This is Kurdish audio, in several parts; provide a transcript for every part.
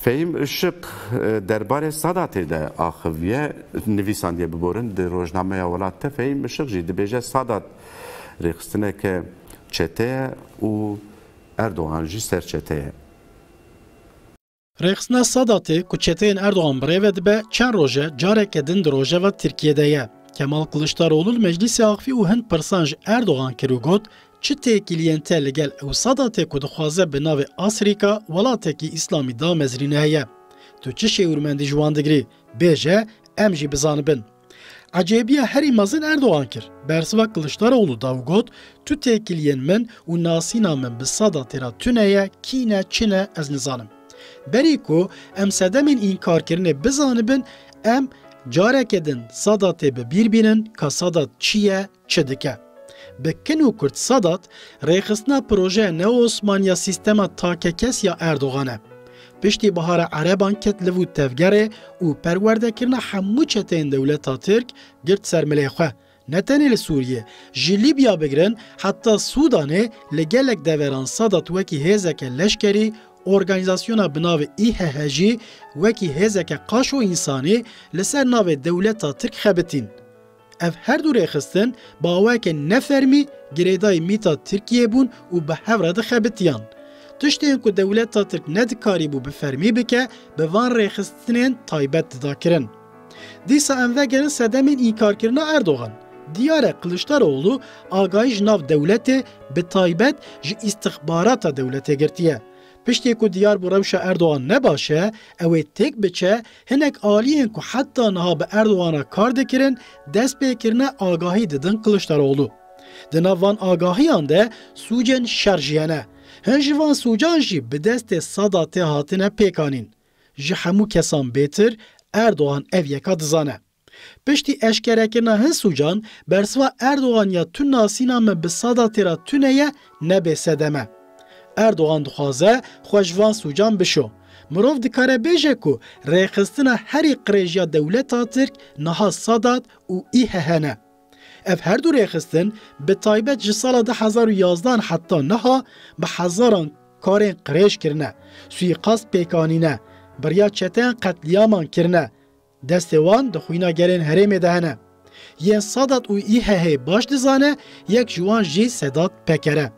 Fehîm Işık derbarê Sadatê de axiviye, nivîsandiye biborin di rojnameya welat de Fehîm Işık jî dibêje Sadat rêxistineke çete ye û Erdogan jî serçete ye. Rêxistina Sadatê ku çeteyên Erdogan bi rê ve dibe çend roj e careke din di rojeva Tirkiyê de ye. Kemal Kiliçdaroglu li meclîsê axivî û hin pirsan ji Erdogan kir û got, Çi têkiliyên te li gel ew sada tê ku dixwaze bi navê Asrîka welatekî îslamî damezrîne heye? Tu çi şêwirmendî ji wan digirî? Bêje em jî bizanibin. Ecêbiya herî mezin Erdogan kir. Bersiva Kiliçdaroglu da û got, Tu têkiliyên min û nasîna min bi sada tê re tune ye, kî ne, çi ne ez nizanim. Berî ku em sedemên înkarkirinê bizanibin, em careke din sada tê bi bîr bînin ka sada çi ye, Çi dike? Bi kin û kurt Sadat, rêxistina projeya neo-osmanî ya sîstema takekes ya Erdogan e. Piştî Bihara Ereban ket li vû tevgerê û perwerdekirina hemû çeteyên dewleta Tirk girt ser milê xwe. Ne tenê li Sûriyê, ji Lîbya bigirin heta Sûdanê li gelek deveran Sadat wekî hêzeke leşkerî, organîzasyona bi navê IHH jî wekî hêzeke qaşo însanî li ser navê dewleta Tirk xebitîn. Ev her du rêxistin baweke ne fermî girêdayî mîta Tirkiyeyê bûn û bi hev re dixebitiyan. Tiştên ku dewleta Tirk ne dikarîbû bi fermî bike, bi van rêxistinên taybet dida kirin. Dîsa em vegerin sedemên înkarkirina Erdogan. Diyar e Kiliçdaroglu agahî ji nav dewletê bi taybet ji îstixbarata dewletê girtiye. Piştî ku diyar bû rewşa Erdogan ne baş e, ew ê têk biçe Hinek aliyên ku heta niha bi Erdowana kar dikirin, destpêkirine agahî didin Kiliçdaroglu. Di nav van agahiyan de sûcên şer jî hene. Hin ji van sûcan jî bi destê Sadatê hatine pêkanîn. Ji hemû kesan bêtir Erdogan ev yeka dizane. Piştî eşkerekirina hin sûcan, bersiva Erdogan ya tu nasîna me bi sada tê ra tune ye nebê sedem e. Erdogan dixwaze xwe ji van sûcan bişo. Mirov dikare bêje ku rêxistina herî qirêjiya dewleta Tirk niha Sadat û IHH ne. Ev her du rêxistin bi taybet ji sala du hezar û yazdeh an heta niha bi hezaran karên qirêj kirine, suîqast pêk anîne, birya çeteyan qetlîaman kirine, Destê wan di xwîna gelên herêmê de hene. Yên Sadat û IHH'ê baş dizane, yek ji wan jî Sedat Peker e.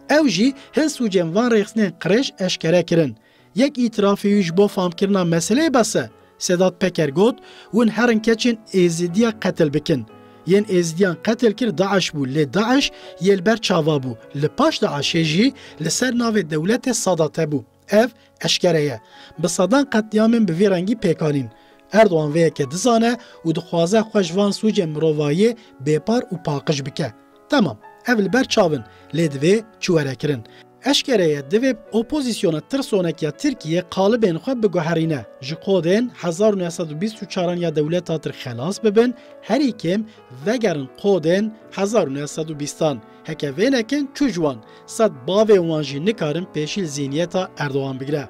Ew jî hin sûcên van rêxistinên qirêj eşkere kirin. Yek îtirafê wî ji bo famkirina meseleyê bes e. Sedat Peker got, Hûn herin keçên Êzidiya qetil bikin. Yên Êzidiyan qetil kir DAIŞ bû lê DAIŞ yê li ber çava bû. Li paş DAIŞ'ê jî li ser navê dewletê Sadat'e bû. Ev eşkere ye. Bi sedan qetlîamên bi vî rengî pêk anîn. Erdogan vê yekê dizane û dixwaze xwe ji van sûcên mirovahiyê bêpar û paqij bike. Temam, ev li ber çav in, lê divê çi were kirin? Eşkere ye divê opozîsyona tirsonek ya Tirkiyê qalibên xwe biguherîne, ji kodên hezar û neh sed û bîst û çar an ya dewleta tirk xelas bibin, herî kêm vegerin kodên hezar û neh sed û bîst an. Heke vê nekin çû ji wan, sed bavê wan jî nikarin pêşîl zîniyeta Erdogan bigire.